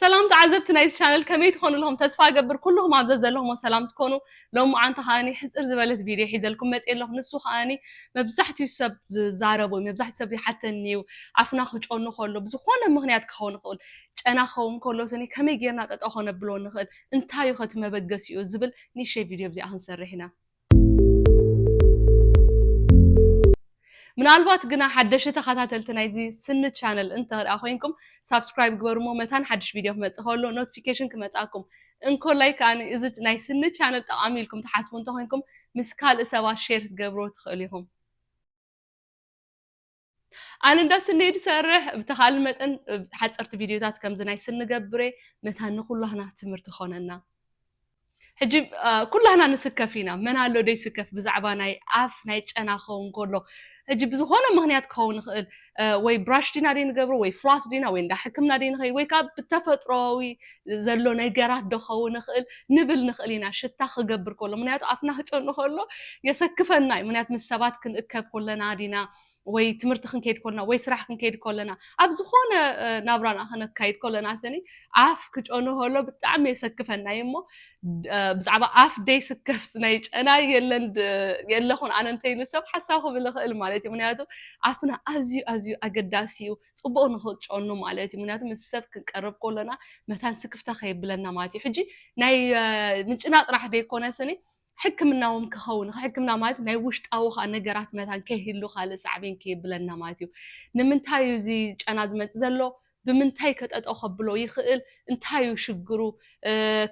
ሰላም ተዓዘብቲ ናይዚ ቻነል ከመይ ትኾኑ ኣለኹም ተስፋ ገብር ኩልኹም ኣብ ዘለኹሞ ሰላም ትኮኑ ሎም መዓንቲ ከዓኒ ሕፅር ዝበለት ቪድዮ ሒዘልኩም መፅ ኣለኹ ንሱ ከዓኒ መብዛሕትኡ ሰብ ዝዛረቡ መብዛሕትኡ ሰብ ይሓተኒ እዩ ኣፍና ክጮኑ ከሎ ብዝኾነ ምክንያት ክኸውን ይኽእል ጨና ክኸውን ከሎ ስኒ ከመይ ጌርና ጠጠው ከነብሎ ንኽእል እንታይ እዩ ከቲ መበገሲኡ ዝብል ንእሽተይ ቪድዮ ብዚኣ ክንሰርሕ ኢና ምናልባት ግና ሓደሽ ተኸታተልቲ ናይዚ ስኒ ቻነል እንተርኣ ኮይንኩም ሳብስክራይብ ግበሩሞ መታን ሓድሽ ቪድዮ ክመፅእ ከሎ ኖቲፊኬሽን ክመፅኣኩም እንኮላይ ከዓ እዚ ናይ ስኒ ቻነል ጠቓሚ ኢልኩም ትሓስቡ እንተኮይንኩም ምስ ካልእ ሰባት ሼር ክትገብርዎ ትኽእሉ ኢኹም። ኣነ እንዳ ስኒ ድሰርሕ ብተኻል መጠን ሓፀርቲ ቪድዮታት ከምዚ ናይ ስኒ ገብረ መታ ንኩላህና ትምህርቲ ኾነና ሕጂ ኩላህና ንስከፍ ኢና መን ኣሎ ደይስከፍ ብዛዕባ ናይ ኣፍ ናይ ጨና ክኸውን ከሎ ሕጂ ብዝኾነ ምክንያት ክኸውን ይኽእል ወይ ብራሽ ዲና ደይ ንገብሮ ወይ ፍላስ ዲና ወይ እንዳ ሕክምና ደይ ንኸይድ ወይ ከዓ ብተፈጥሮዊ ዘሎ ነገራት ዶ ክኸውን ይኽእል ንብል ንኽእል ኢና ሽታ ክገብር ከሎ ምኽንያቱ ኣፍና ክጨኑ ከሎ የሰክፈና እዩ ምኽንያቱ ምስ ሰባት ክንእከብ ከለና ዲና ወይ ትምህርቲ ክንከይድ ከለና ወይ ስራሕ ክንከይድ ከለና ኣብ ዝኾነ ናብራና ክነካይድ ከለና ስኒ ኣፍ ክጨኑ ከሎ ብጣዕሚ የሰክፈና እዩ እሞ ብዛዕባ ኣፍ ደይስከፍስ ናይ ጨና የለን የለኹን ኣነ እንተይሉ ሰብ ሓሳብ ክብል ይኽእል ማለት እዩ ምኽንያቱ ኣፍና ኣዝዩ ኣዝዩ ኣገዳሲ እዩ ፅቡቅ ንክጨኑ ማለት እዩ ምክንያቱ ምስ ሰብ ክንቀርብ ከሎና መታን ስክፍታ ከየብለና ማለት እዩ ሕጂ ናይ ምጭናቅ ጥራሕ ዘይኮነ ስኒ ሕክምናዎም ክኸውን ሕክምና ማለት ናይ ውሽጣዊ ከዓ ነገራት መታን ከይህሉ ካልእ ሳዕቤን ከየብለና ማለት እዩ ንምንታይ እዩ እዚ ጨና ዝመፅእ ዘሎ ብምንታይ ከጠጦ ከብሎ ይኽእል እንታይ እዩ ሽግሩ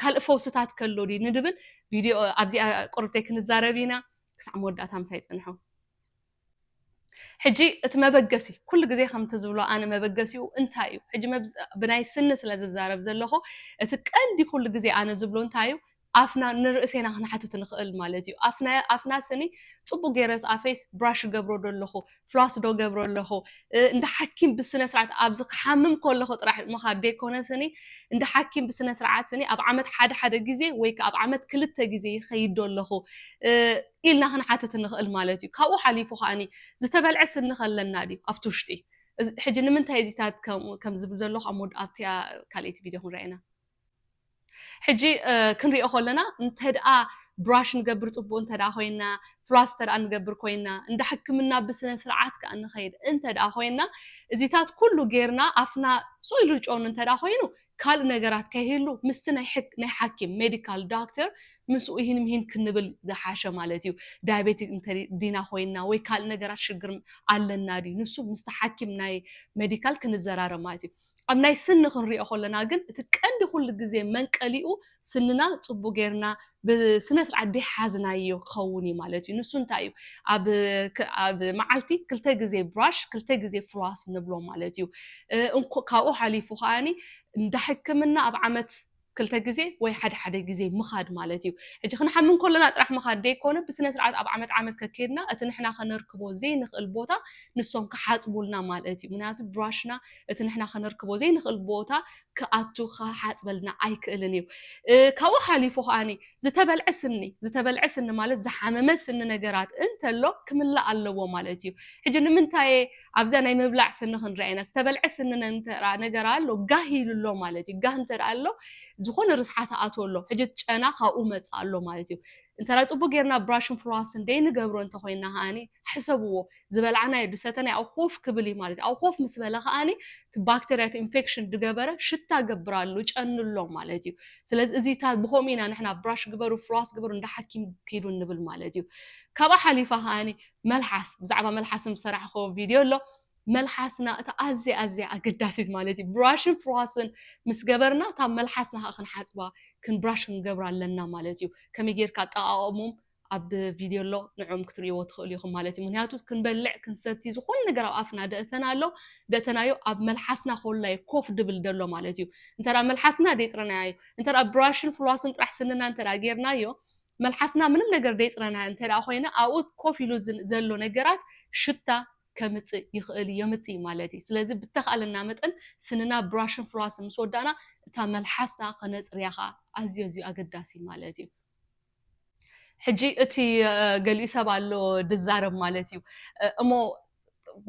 ካልእ ፈውስታት ከሎ ድዩ ንድብል ቪድዮ ኣብዚኣ ቁርብተይ ክንዛረብ ኢና ክሳዕ መወዳእታ ምሳይ ፅንሑ ሕጂ እቲ መበገሲ ኩሉ ግዜ ከምቲ ዝብሎ ኣነ መበገሲኡ እንታይ እዩ ሕጂ ብናይ ስኒ ስለ ዝዛረብ ዘለኹ እቲ ቀንዲ ኩሉ ግዜ ኣነ ዝብሎ እንታይ እዩ ኣፍና ንርእሴና ክንሓትት ንኽእል ማለት እዩ ኣፍና ስኒ ጽቡቅ ገይረስ ኣፈይስ ብራሽ ገብሮ ዶ ኣለኹ ፍላስ ዶ ገብሮ ኣለኹ እንዳ ሓኪም ብስነ ስርዓት ኣብዚ ክሓምም ከለኹ ጥራሕ ምኻድ ዘይኮነ ስኒ እንዳ ሓኪም ብስነ ስርዓት ስኒ ኣብ ዓመት ሓደ ሓደ ግዜ ወይ ኣብ ዓመት ክልተ ግዜ ይኸይድ ዶ ኣለኹ ኢልና ክንሓትት ንኽእል ማለት እዩ። ካብኡ ሓሊፉ ከኣ ዝተበልዐ ስኒ ከ ኣለና ድዩ ኣብቲ ውሽጢ? ሕጂ ንምንታይ እዩ እዚታት ከምኡ ከም ዝብል ዘለኹ ኣብ መወዳእታ ካልኣይቲ ቪድዮ ክንርኣ ኢና። ሕጂ ክንሪኦ ከለና እንተድኣ ብራሽ ንገብር ጽቡቅ እንተድኣ ኮይና ፍላስ እንተድኣ ንገብር ኮይና እንዳ ሕክምና ብስነ ስርዓት ከኣ ንኸይድ እንተድኣ ኮይና እዚታት ኩሉ ጌርና ኣፍና ጹይ ኢሉ ጨኑ እንተድኣ ኮይኑ ካልእ ነገራት ከይህሉ ምስቲ ናይ ሕክ ናይ ሓኪም ሜዲካል ዶክተር ምስኡ ኢሂን ምሂን ክንብል ዝሓሸ ማለት እዩ ዳያቤቲክ እንተ ዲና ኮይና ወይ ካልእ ነገራት ሽግር ኣለና ድዩ ንሱ ምስቲ ሓኪም ናይ ሜዲካል ክንዘራረብ ማለት እዩ ኣብ ናይ ስኒ ክንሪኦ ከለና ግን እቲ ቀንዲ ኩሉ ግዜ መንቀሊኡ ስንና ጽቡቕ ጌርና ብስነስርዓት ደይሓዝናዮ ክኸውን እዩ ማለት እዩ። ንሱ እንታይ እዩ? ኣብ ኣብ መዓልቲ ክልተ ግዜ ብራሽ ክልተ ግዜ ፍሏስ ንብሎ ማለት እዩ። እንኮ ካብኡ ሓሊፉ ከኣኒ እንዳ ሕክምና ኣብ ዓመት ክልተ ግዜ ወይ ሓደ ሓደ ግዜ ምኻድ ማለት እዩ። ሕጂ ክንሓምም ከሎና ጥራሕ ምኻድ ደይኮነ ብስነስርዓት ኣብ ዓመት ዓመት ከኬድና እቲ ንሕና ከነርክቦ ዘይንኽእል ቦታ ንሶም ክሓጽቡልና ማለት እዩ። ምክንያቱ ብራሽና እቲ ንሕና ከነርክቦ ዘይንኽእል ቦታ ክኣቱ ክሓጽበልና ኣይክእልን እዩ። ካብኡ ሓሊፉ ከኣ ዝተበልዐ ስኒ ዝተበልዐ ስኒ ማለት ዝሓመመ ስኒ ነገራት እንተሎ ክምላእ ኣለዎ ማለት እዩ። ሕጂ ንምንታይ እየ ኣብዛ ናይ ምብላዕ ስኒ ክንርኣ ኢና ዝተበልዐ ስኒ እንተ ነገር ኣሎ ጋህ ኢሉ ኣሎ ማለት እዩ። ጋህ እንተ ኣሎ ዝኾነ ርስሓት ይኣትዎ ኣሎ ሕጂ እቲ ጨና ካብኡ መጽእ ኣሎ ማለት እዩ። እንተ ጽቡቅ ጌርና ብራሽን ፍሎስን ዘይንገብሮ እንተ ኮይና ከኣ ሕሰብዎ። ዝበላዕናዮ ድሰተናዮ ኣብኡ ኮፍ ክብል እዩ ማለት እዩ። ኣብኡ ኮፍ ምስ በለ ከኣ እቲ ባክተርያ እቲ ኢንፌክሽን ድገበረ ሽታ ገብራሉ ጨንሎ ማለት እዩ። ስለዚ እዚ እታ ብከምኡ ኢና ንሕና ብራሽ ግበሩ ፍሎስ ግበሩ እንዳ ሓኪም ኪዱ ንብል ማለት እዩ። ካብኣ ሓሊፋ ከኣ መልሓስ ብዛዕባ መልሓስ ዝሰራሕክዎ ቪድዮ ኣሎ። መልሓስና እታ ኣዝያ ኣዝያ ኣገዳሲት ማለት እዩ ብራሽን ፍሎስን ምስ ገበርና እታ መልሓስና ከኣ ክንሓጽባ ብራሽ ክንገብራ ኣለና ማለት እዩ። ከመይ ጌርካ ኣጠቓቕምኦም ኣብ ቪድዮ ኣሎ ንዕኦም ክትርእይዎ ትኽእሉ ኢኹም ማለት እዩ ምክንያቱ ክንበልዕ ክንሰቲ ዝኾነ ነገር ኣብ ኣፍና ደእተና ኣሎ ደእተናዮ ኣብ መልሓስና ኮላ እዩ ኮፍ ድብል ደሎ ማለት እዩ እንተ መልሓስና ደይፅረናያ እዩ እንተ ብራሽን ፍሏስን ጥራሕ ስንና እንተ ጌርናዮ መልሓስና ምንም ነገር ደይፅረናያ እንተ ኮይነ ኣብኡ ኮፍ ኢሉ ዘሎ ነገራት ሽታ ከምፅእ ይኽእል እዩ የምፅእ እዩ ማለት እዩ ስለዚ ብተኻእለና መጠን ስንና ብራሽን ፍሏስን ምስ ወዳእና እታ መልሓስና ከነፅርያ ከዓ ኣዝዮ ኣዝዩ ኣገዳሲ ማለት እዩ ሕጂ እቲ ገሊኡ ሰብ ኣሎ ድዛረብ ማለት እዩ እሞ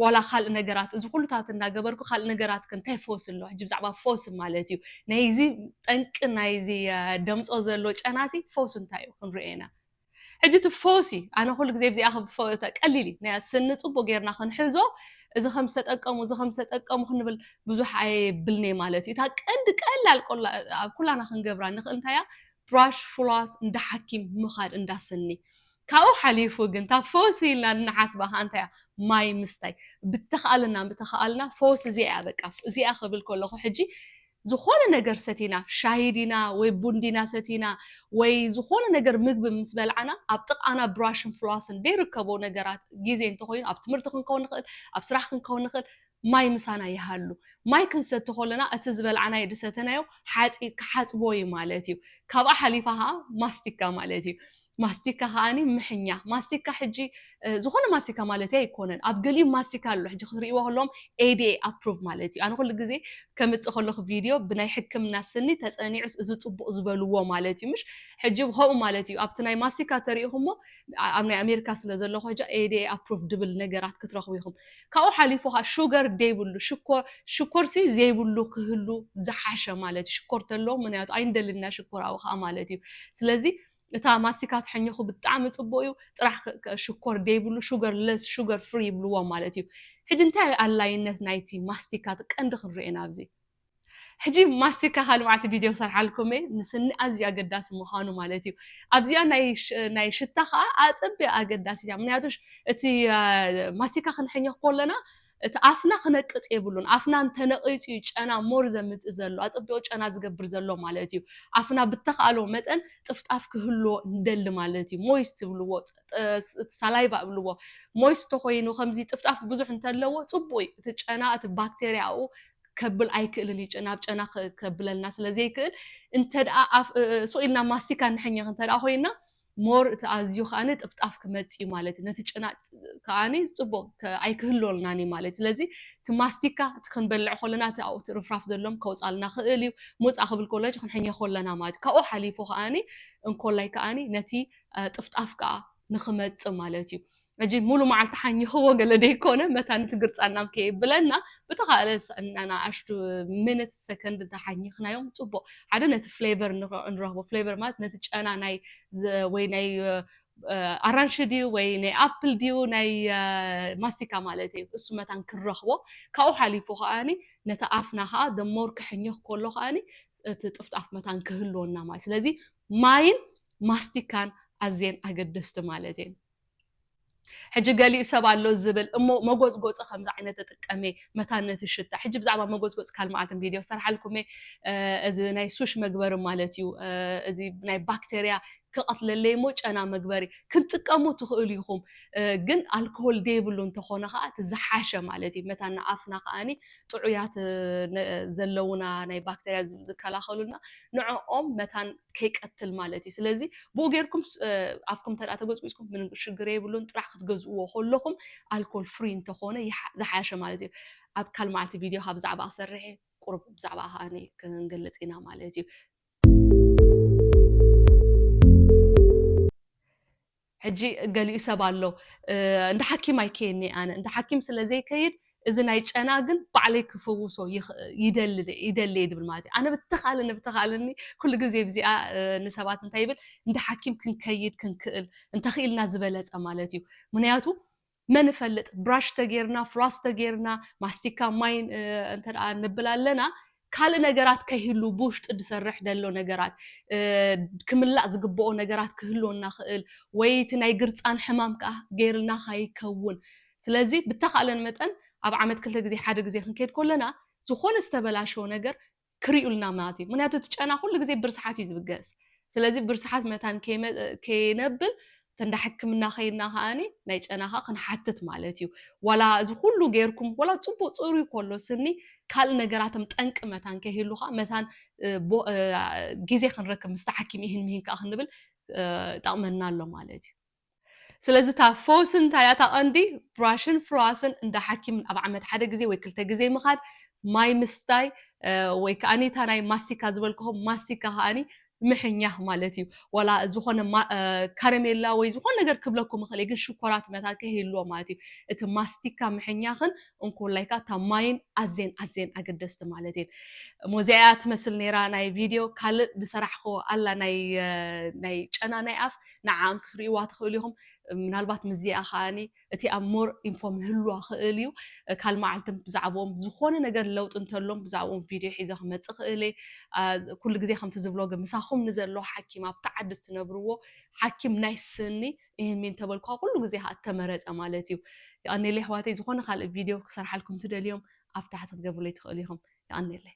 ዋላ ካልእ ነገራት እዚ ኩሉታት እንዳገበርኩ ካልእ ነገራት ከ እንታይ ፈውሲ ኣሎ ሕጂ ብዛዕባ ፈውሲ ማለት እዩ ናይዚ ጠንቂ ናይዚ ደምፆ ዘሎ ጨናሲ ፈውሲ እንታይ እዩ ክንሪኦ ኢና ሕጂ እቲ ፈውሲ ኣነ ኩሉ ግዜ ብዚኣ ቀሊል እዩ ናይ ስኒ ፅቡቅ ጌርና ክንሕዞ እዚ ከም ዝተጠቀሙ እዚ ከም ዝተጠቀሙ ክንብል ብዙሕ ኣየብልኒ ማለት እዩ እታ ቀንዲ ቀላል ኩላና ክንገብራ ንኽእል እንታይ እያ ፍራሽ ፍራስ እንዳ ሓኪም ምኻድ እንዳ ስኒ ካብኡ ሓሊፉ ግን እታ ፈውሲ ኢልና እንሓስባ ከኣ እንታይ እያ ማይ ምስታይ ብተኻእለና ብተኻእለና ፈውሲ እዚኣ እያ በቃ እዚኣ ክብል ከለኹ ሕጂ ዝኾነ ነገር ሰቲና ሻሂ ዲና ወይ ቡን ዲና ሰቲና ወይ ዝኾነ ነገር ምግቢ ምስ በልዓና ኣብ ጥቓና ብራሽን ፍላስን ዘይርከቦ ነገራት ግዜ እንተኾይኑ ኣብ ትምህርቲ ክንከውን ንኽእል ኣብ ስራሕ ክንከውን ንኽእል ማይ ምሳና ይሃሉ። ማይ ክንሰቲ ከሎና እቲ ዝበልዓናዮ ድሰተናዮ ሓጺ ክሓጽቦ እዩ ማለት እዩ። ካብኣ ሓሊፋ ከኣ ማስቲካ ማለት እዩ። ማስቲካ ከኣ ምሕኛ ማስቲካ ሕጂ ዝኾነ ማስቲካ ማለተይ ኣይኮነን ኣብ ገሊኡ ማስቲካ ኣሎ ሕጂ ክትርእይዎ ከለዎም ADA approved ማለት እዩ። ኣነ ኩሉ ግዜ ከምጽእ ከለኹ ቪድዮ ብናይ ሕክምና ስኒ ተጸኒዑስ እዚ ጽቡቕ ዝበልዎ ማለት እዩ ምሽ ሕጂ ከምኡ ማለት እዩ። ኣብቲ ናይ ማስቲካ ተሪኢኹሞ ኣብ ናይ ኣሜሪካ ስለ ዘለኹ ሕጂ ADA approved ድብል ነገራት ክትረኽቡ ኢኹም። ካብኡ ሓሊፉ ከኣ ሹገር ዘይብሉ ሽኮር ሽኮርሲ ዘይብሉ ክህሉ ዝሓሸ ማለት እዩ ሽኮር ተሎ ምክንያቱ ኣይንደልን ኢና ሽኮር ኣብኡ ከኣ ማለት እዩ ስለዚ እታ ማስቲካ ትሕኝኹ ብጣዕሚ ጽቡቅ እዩ ጥራሕ ሽኮር ዘይብሉ ሹገር ለስ ሹገር ፍሪ ይብልዎ ማለት እዩ ሕጂ እንታይ ኣላይነት ናይቲ ማስቲካ ቀንዲ ክንሪኦ ኢና ኣብዚ ሕጂ ማስቲካ ካልእ መዓልቲ ቪድዮ ክሰርሓልኩም እየ ንስኒ ኣዝዩ ኣገዳሲ ምዃኑ ማለት እዩ ኣብዚኣ ናይ ሽታ ከዓ ኣጸቢያ ኣገዳሲት እያ ምክንያቱ እቲ ማስቲካ ክንሕኘኽ ኮለና እቲ ኣፍና ክነቅጽ የብሉን ኣፍና እንተነቂጹ እዩ ጨና ሞር ዘምጽእ ዘሎ ኣጸቢቑ ጨና ዝገብር ዘሎ ማለት እዩ ኣፍና ብተኻእሎ መጠን ጥፍጣፍ ክህልዎ ንደሊ ማለት እዩ ሞይስ ትብልዎ ሳላይቫ እብልዎ ሞይስ ተኮይኑ ከምዚ ጥፍጣፍ ብዙሕ እንተለዎ ጽቡቅ እዩ እቲ ጨና እቲ ባክቴሪያኡ ከብል ኣይክእልን እዩ ናብ ጨና ከብለልና ስለዘይክእል እንተደኣ ሱቕ ኢልና ማስቲካ ንሕኘኽ እንተደኣ ኮይና ሞር እቲ ኣዝዩ ከዓኒ ጥፍጣፍ ክመፅ እዩ ማለት እዩ ነቲ ጨና ከዓኒ ፅቡቕ ኣይክህሎልናን እዩ ማለት ስለዚ እቲ ማስቲካ እቲ ክንበልዕ ከለና እቲ ኣብኡ እቲ ርፍራፍ ዘሎም ከውፃልና ክእል እዩ ሞፃ ክብል ከሎ ክንሕኘ ከለና ማለት እዩ ካብኡ ሓሊፉ ከዓኒ እንኮላይ ከዓኒ ነቲ ጥፍጣፍ ከዓ ንክመፅእ ማለት እዩ መጂድ ሙሉ መዓልቲ ሓኝኽዎ ገለ ደይኮነ መታን እቲ ግርጻን ናብ ከየብለና ብተኻእለ ንኣሽቱ ምንት ሰከንድ እንተሓኝኽናዮም ጽቡቕ ሓደ ነቲ ፍሌቨር ንረኽቦ ፍሌቨር ማለት ነቲ ጨና ናይ ወይ ናይ ኣራንሺ ድዩ ወይ ናይ ኣፕል ድዩ ናይ ማስቲካ ማለት እዩ እሱ መታን ክንረኽቦ ካብኡ ሓሊፉ ከዓኒ ነቲ ኣፍና ከዓ ደሞር ክሕኘኽ ከሎ ከዓኒ እቲ ጥፍጣፍ መታን ክህልወና ማለት ስለዚ ማይን ማስቲካን ኣዝየን ኣገደስቲ ማለት እየን ሕጂ ገሊኡ ሰብ ኣሎ ዝብል እሞ መጎጽጎጺ ከምዚ ዓይነት ትጥቀም እየ መታን ነቲ ሽታ ሕጂ ብዛዕባ መጎጽጎጽ ካል መዓልትን ቪድዮ ክሰርሓልኩም እየ እዚ ናይ ሱሽ መግበሪ ማለት እዩ እዚ ናይ ባክቴርያ ክቐትለለይ እሞ ጨና መግበሪ ክንጥቀሙ ትኽእሉ ኢኹም ግን ኣልኮሆል ዘይብሉ እንተኾነ ከዓ እቲ ዝሓሸ ማለት እዩ መታን ንኣፍና ከዓኒ ጥዑያት ዘለውና ናይ ባክቴርያ ዝከላኸሉልና ንዕኦም መታን ከይቀትል ማለት እዩ ስለዚ ብኡ ጌርኩም ኣፍኩም ተደኣ ተጎጽጉጽኩም ምንም ሽግር የብሉን ጥራሕ ክትገዝእዎ ከለኹም ኣልኮል ፍሪ እንተኾነ ዝሓሸ ማለት እዩ ኣብ ካል መዓልቲ ቪድዮ ካብ ዛዕባ ክሰርሕ እየ ቁሩብ ብዛዕባ ከኣ ክንገልጽ ኢና ማለት እዩ ሕጂ ገሊኡ ሰብ ኣሎ እንዳ ሓኪም ኣይከየን'የ ኣነ፣ እንዳ ሓኪም ስለ ዘይከይድ እዚ ናይ ጨና ግን ባዕለይ ክፍውሶ ይደሊ ይደሊ'የ ድብል ማለት እዩ። ኣነ ብተኻእለኒ ብተኻእለኒ ኩሉ ግዜ ብዚኣ ንሰባት እንታይ ይብል እንዳ ሓኪም ክንከይድ ክንክእል እንተኺኢልና ዝበለጸ ማለት እዩ። ምኽንያቱ መን እፈልጥ ብራሽ ተጌርና ፍሏስ ተጌርና ማስቲካ ማይ እንተ ንብል ኣለና ካልእ ነገራት ከይህሉ ብውሽጢ ዝሰርሕ ደሎ ነገራት ክምላእ ዝግብኦ ነገራት ክህልወና ክእል ወይ እቲ ናይ ግርፃን ሕማም ከዓ ገይርልና ካይከውን ስለዚ ብተኻለን መጠን ኣብ ዓመት ክልተ ግዜ ሓደ ግዜ ክንከይድ ኮለና ዝኾነ ዝተበላሸወ ነገር ክሪኡልና ማለት እዩ ምክንያቱ እቲ ጨና ኩሉ ግዜ ብርስሓት እዩ ዝብገስ ስለዚ ብርስሓት መታን ከይነብል ተንዳ ሕክምና ከይና ከዓኒ ናይ ጨና ከዓ ክንሓትት ማለት እዩ ዋላ እዚ ኩሉ ገይርኩም ዋላ ፅቡቅ ፅሩይ ኮሎ ስኒ ካልእ ነገራትም ጠንቂ መታን ከይህሉ ከዓ መታን ግዜ ክንረክብ ምስቲ ሓኪም ይህን ምሂን ከዓ ክንብል ይጠቅመና ኣሎ ማለት እዩ ስለዚ እታ ፈውሲ እንታይ እያ? እታ ቀንዲ ብራሽን ፍሎስን እንዳ ሓኪምን ኣብ ዓመት ሓደ ግዜ ወይ ክልተ ግዜ ምኻድ፣ ማይ ምስታይ ወይ ከኣ እታ ናይ ማስቲካ ዝበልክኹም ማስቲካ ከኣ ምሕኛኽ ማለት እዩ። ዋላ ዝኾነ ካረሜላ ወይ ዝኾነ ነገር ክብለኩም ይኽእል እየ ግን ሽኮራት መታን ከይህልዎ ማለት እዩ። እቲ ማስቲካ ምሕኛኽን እንኮላይ ከኣ እታ ማይን ኣዝየን ኣዝየን ኣገደስቲ ማለት እየን። እሞ እዚኣ እያ ትመስል ነይራ ናይ ቪድዮ ካልእ ዝሰራሕክዎ ኣላ ናይ ጨና ናይ ኣፍ ንዓኣም ክትርእይዋ ትኽእሉ ኢኹም። ምናልባት ምስዚኣ ከኣኒ እቲ ኣብ ሞር ኢንፎ ምህልዋ ክእል እዩ። ካልእ መዓልቲ ብዛዕብኦም ዝኾነ ነገር ለውጢ እንተሎም ብዛዕብኦም ቪድዮ ሒዘ ክመጽእ ክእል እየ። ኣ ኩሉ ግዜ ከምቲ ዝብሎ ግን ምሳኹም ንዘሎ ሓኪም ኣብቲ ዓዲ እትነብርዎ ሓኪም ናይ ስኒ ኢህንሚ እንተበልኩኻ ኩሉ ግዜ ከኣ እተመረጸ ማለት እዩ። የቐኔለይ ኣሕዋተይ ዝኾነ ካልእ ቪድዮ ክሰርሓልኩም ትደልዮም ኣብ ታሕቲ ክትገብሩለይ ትኽእሉ ኢኹም። የቐኔለይ።